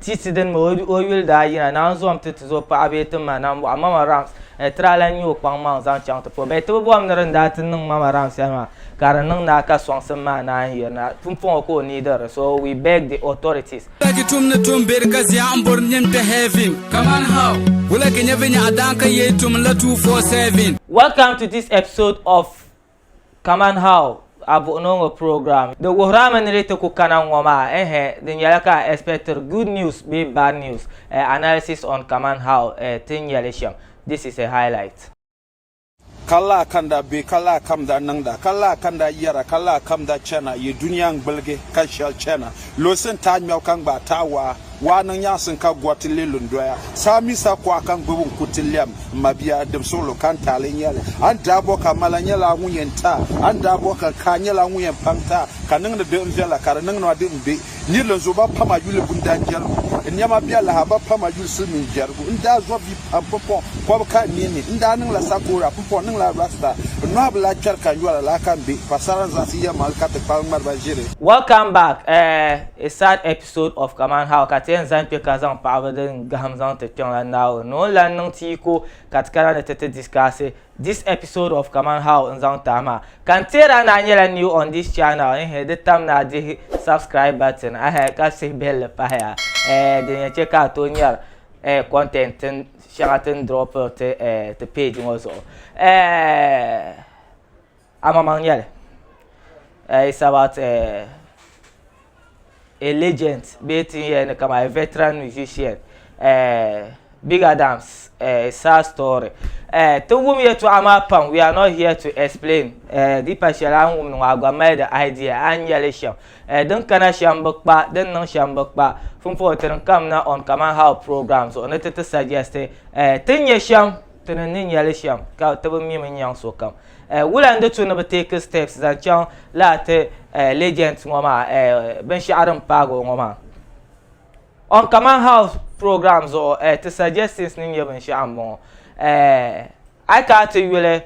Tisi dini mi o yuli daa yina naanzom ti tiz o paɣa bee ti ma nambɔɣu Mama Rams ni tira la n-nyɛ o kpaŋmaŋ zaŋ chaŋ ti po bee ti bi bom ni di ni daa ti niŋ Mama Rams shɛli maa ka di niŋ naa ka sɔŋsim maa naan yiri na pumpɔŋɔ ka o neediri di so we beg the authorities Wulagi tum ni tum beri ka ziɛɣu m-bori nyin kpe heaven Kaman how? Wulagi nyɛ vinyɛɣu daan ka yee tum n-la 247. Welcome to this episode of Kaman how a buɣi ni o ŋɔ program. Di wuhiri a mi ni di ti ku kana ŋɔ maa ehe di nyɛla ka a expectiri good news bee bad news eh analysis on kaman how eh ti nya li shɛm this is a highlight. Ka laa ka n daa be, ka laa ka m daa niŋda, ka laa ka n daa yɛra, ka laa ka m daa chana, yi dunia n-gbuligi ka shɛli chana, lunsi n-taai ŋmɛbu ka n gbaai taai waa. Waa niŋ nyaŋsim ka gɔriti leei lu n-doya. Saa mi sa kuɣa ka n gbibi n kuriti lɛm m mabia dim suɣilo ka n ti a lee nya li. A ni daa bɔh ka ma la nyɛla a ŋun yɛn ti a. A ni daa bɔh ka n ka a nyɛla a ŋun yɛn paŋ ti a ka niŋdi di n viɛla ka di niŋ ma di n be nirili n zo ba pam a yuli bundan jɛrigu. N nɛma bɛ a lahi a ba pam a yuli silimiin jɛrigu. N daa zɔb bia pam pumpɔŋ kɔbu ka n nini n daa niŋla sakora pumpɔŋ niŋla rasta. N nɔhi bi lahi kpɛri ka n yɔra laa ka m be paɣisara n zaŋsi yɛlimaŋli ka ti kpari ŋmariba ʒiri. Welcome back eh a sad episode. Sort of kamani how ka ti yɛn zaŋ kpe ka zaŋ paɣiba din gahim zaŋ ti kpiɔŋ la Naawuni ni o ni lan niŋ ti yi ko ka ti kana ni ti ti discuss this episode of kamani how n zaŋ tahi maa. Ka n teer a ni a nyɛla new on this channel ehe di tam ni a dihi subscribe button ehe ka sihi bihili pahi a eh din yɛn chɛ ka a tooi nyari eh content tin shɛŋa ti ni dropiri ti eh ti page ŋɔ zuɣu eh. Amaŋmaŋ nyɛli uh, it's about uh, a legend bee tin yɛli ni kama a veteran musician uh, Big Adams uh, sad story uh, ti wum yɛtɔɣa maa pam we are not here to explain uh, di pa shɛli a ni wumdi ŋɔ a gba mali di idea a ni nyɛli shɛm uh, din kana shɛm bi kpa din niŋ shɛm bi kpa fimpoŋ ti din kam na on kamani how program zuɣu ni ti ti suggest uh, tin nyɛ shɛm Ti ni ni nya li shɛm ka ti bi mi mi nyaŋ sokam. Wula n-di tu ni bi take steps zaŋ chaŋ lala ti legends ŋɔ maa binshɛɣu din paagi o ŋɔ maa? On Kaman House program zuɣu ti suggestions ni nyɛ binshɛɣu m-bɔŋɔ. A yi kana ti yuli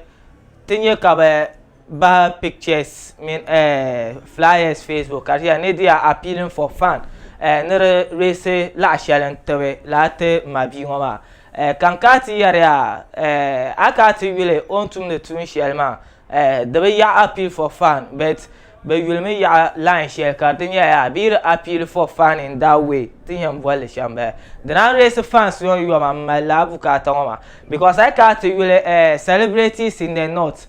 ti nya ka bɛ Bahi pictures mini eh, flyers Facebook ka di yɛli ni di yaa appealing for fan eh, ni di reesi laɣa shɛli n tibi lala ti ma bia ŋɔ maa eh, ka n kaa ti yɛri ya eh, a kaa ti yuli o ni tumdi tuun shɛli maa eh, di bi yaɣi appeal for fan but bɛ yuli mi yaɣi line shɛli ka di nyɛla yaa bia di appeal for fan in that way ti ni yɛn boli li shɛm bala di na reesi fans ŋɔ yoma m mali lala bukaata ŋɔ maa because a yi kaa ti yuli eh, celebrities in the north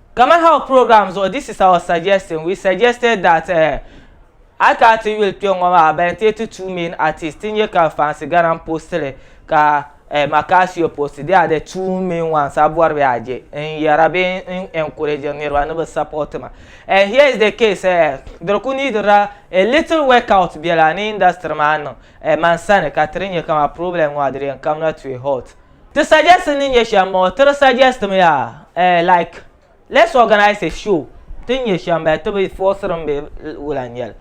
Kamani Health Program zuɣu this is our suggestion, we suggested that eh, a ti a ti yuli kpe ŋɔ maa bɛ ti ti two main artists ti nyɛ ka fansi gana n post li ka eh, Macasio post they are the two main ones a bɔri bɛ a je n yɛra bee n encouragiri niriba ni bɛ support ma and here is the case eh, diri ku needila a little work out bela ni industry maa niŋ eh, man sani ka tiri nyɛ ka ma problem ŋɔ a diri yɛn kamina to a halt. Ti suggest ni nyɛ shɛm moo tiri suggest mi yaa eh like let's organise a show tin nyɛ shɛm bɛ ti bi forceri mi bee wula n nyɛli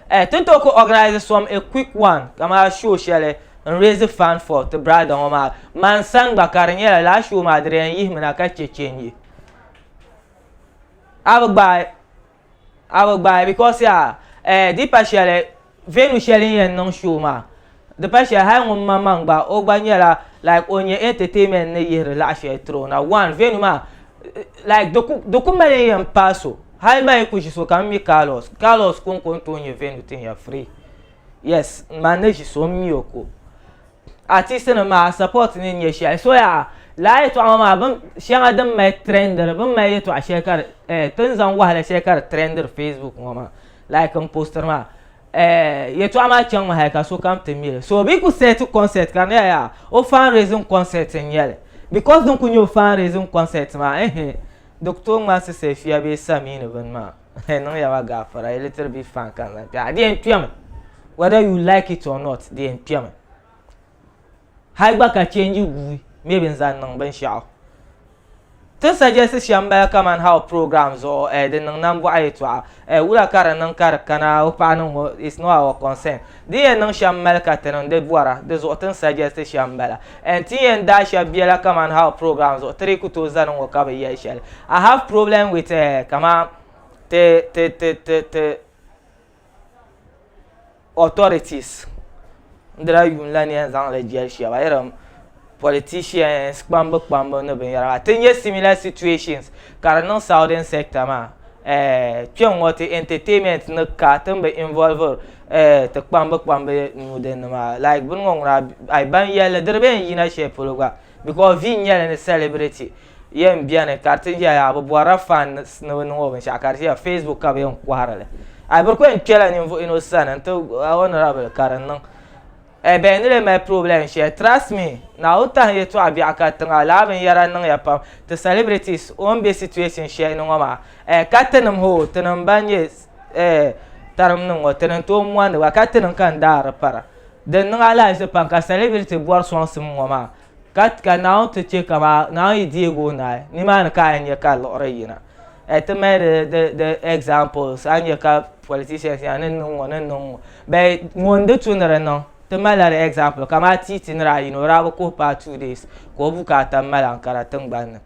eh tin tooi kuli organise some a quick one kamani show shɛli n raise fund for ti brother ŋɔ maa man sani gba ka di nyɛla lala show maa di di yɛn yihimi na ka chɛ change a bi gbaai A bi gbaai because yaa eh di pa shɛli venue shɛli n yɛn niŋ show maa di pa shɛli hali ŋun ma maŋ gba o gba nyɛla like o nyɛ entertainment ni yihiri laɣa shɛli tiri o na one venue maa like di ku di ku mali n yɛn paai so hali ma yi ku ʒi so ka m mi Carlos Carlos konko n tooi nyɛ venue tin ya free yes man ni ʒi so m mi o ko artist nim maa support ni nyɛ shɛli so yaa laa yɛtɔɣa ŋɔ maa bin shɛŋa din mali trendiri bin mali yɛtɔɣa shɛli ka eh, tin zaŋ wahala shɛli ka di trendiri facebook ŋɔ maa like n postiri maa eh, yɛtɔɣa maa chaŋ mi hali ka sokam ti mili so bi ku set concert ka niya yaa o fan raising concert n nyɛli because din ku nyɛ o fan raising concert maa ehe di ku tooi ŋmansi sɛfiya bee samii ni bini maa N niŋya ba gaafara a little bit fan ka n zaŋ kpɛha di yɛn kpɛmi whether you like it or not di yɛn kpɛmi hali gba ka change guui maybe n zaŋ niŋ binshaɣu ti suggest shɛm n bala kamani how program zuɣu eh, di niŋ nambɔɣu yɛltɔɣa eh, wula ka di niŋ ka di kana o paɣa niŋ ŋɔ it's not our concern Di yɛn niŋ shɛm mali ka ti niŋ di bɔra, di zuɣu ti ni suggest shɛm m-bala. And ti yɛn daai shɛb biɛla kaman how program zuɣu ti di ku tooi zani ŋɔ ka bi yɛli shɛli. I have problem with eh kaman ti ti ti ti ti authorities n-dila yuun la ni yɛn zaŋ li jɛli shɛba irin politicians kpambu kpambu ni binyɛra maa ti nyɛ similar situations ka di niŋ southern sector maa eh, kpɛŋŋɔ ti entertainment ni ka ti ni bi involver eh, ti kpambu kpambu nuu din ni maa like bini ŋɔ ŋuna ai ban yɛlli di di bi yɛn yina shɛli polo gba because vi nyɛli ni celebrity yɛn bɛni ka di ti yɛ yaa bi bɔrila fans ni bi niŋ o binshɛɣu ka di ti yɛ facebook ka bi yɛn kɔhiri li ai bi di ku yɛn kpɛla ninvuɣu yino sani n ti honorable ka di niŋ Ɛɛ bɛ ni lee mali problem shɛli trust me Naawuni tahi yɛltɔɣa biɛɣu ka tiŋa laa binyɛra niŋya pam ti celebrities o ni bɛ situation shɛli ni ŋɔ maa ɛɛ ka tinim hoo tinim ban nyɛ ɛɛ tarim nim ŋɔ tini n tooi mondi ba ka tinim ka n daari para din niŋ alahizi pam ka celebrity bɔri sɔŋsim ŋɔ maa Ka, ka Naawuni ti chɛ ka maa, Naawuni yi deeg o naai, nimaani ka a yɛn nya ka liɣiri yina. Ɛ, ti mali di, di, di examples, a ni nya ka politicians nya ni n-niŋ ŋɔ, ni n-niŋ ŋɔ. Bɛ, ŋun di tu ni di niŋ, ti mali la di example, kamaa Titi ni daa yina, o daa bi kuhi paai two days ka o bukaata m-mali Ankara tiŋgbani ni.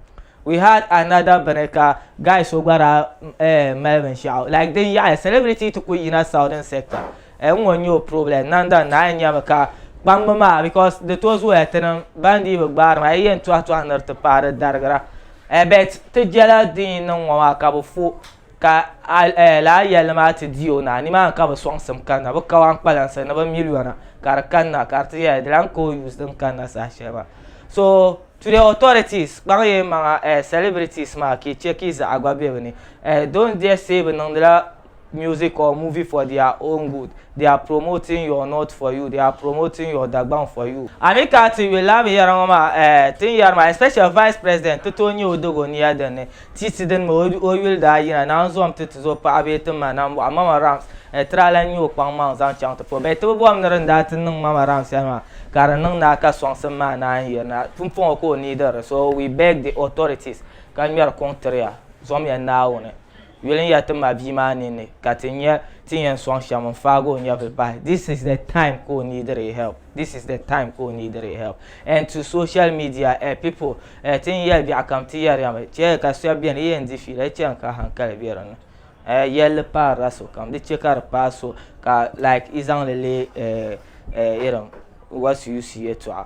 We had another bini ka guy so gba daa, eh, mali binshɛɣu like din yaɣiya, celebrity ti kul yina southern sector. Eh ŋɔ n nyɛ o problem Nanda n naai nyami ka kpambi maa because di tooi zooya ti niŋ ban dii bi gbaari maa yi yɛn tɔhi tɔhi niri ti paai di darigira eh bet ti jɛla din yi niŋ ŋɔ maa ka bi fo ka eh lala yɛlli maa ti di o naa nimaani ka bi sɔŋsim kanna bi kawan kpalansi ni bi miliyona ka di kanna ka di ti yɛli di lan ka o use din kanna saha shɛli maa so today authorities kpaŋ yi maŋa eh celebrities maa ka yi che ka yi zaɣa gba be bi ni eh don't dare say bi niŋdila music or movie for their own good they are promoting your not for you they are promoting your Dagbaŋ for you. A ni kana ti yuli lala binyɛra ŋɔ maa eh, ti ni yɛri maa especially vice president ti tooi nya o dog o nia din ni ti ti din mi o yuli daa yina naan zom ti ti zo paɣa bee ti ma nam bɔɣu Mama Rams eh, ti daa lan nya o kpaŋ maŋ zaŋ chaŋ ti puhi bee ti bi bom ni din daa ti niŋ Mama Rams shɛli maa ka di niŋ naa ka sɔŋsim maa naan yiri na pumpɔŋɔ ka o neediri so we beg the authorities ka ŋmɛri kuŋ tiri ya zom ya Naawuni Yuli n ya ti ma bia maa ninni ka ti nya ti yɛn sɔŋ shɛm n faagi o nyɛvili bahi this is the time ka o neediri help this is the time ka o neediri help and to social media eh people eh ti ni yɛli biɛɣu kam ti yɛri ya mi chɛ ka shɛba bɛni yi yɛn di fiila yi chɛn ka hankali bɛ di ni eh yɛlli paarila sokam di chɛ ka di paai so ka like yi zaŋli leei eh eh irin what's use yɛltɔɣa.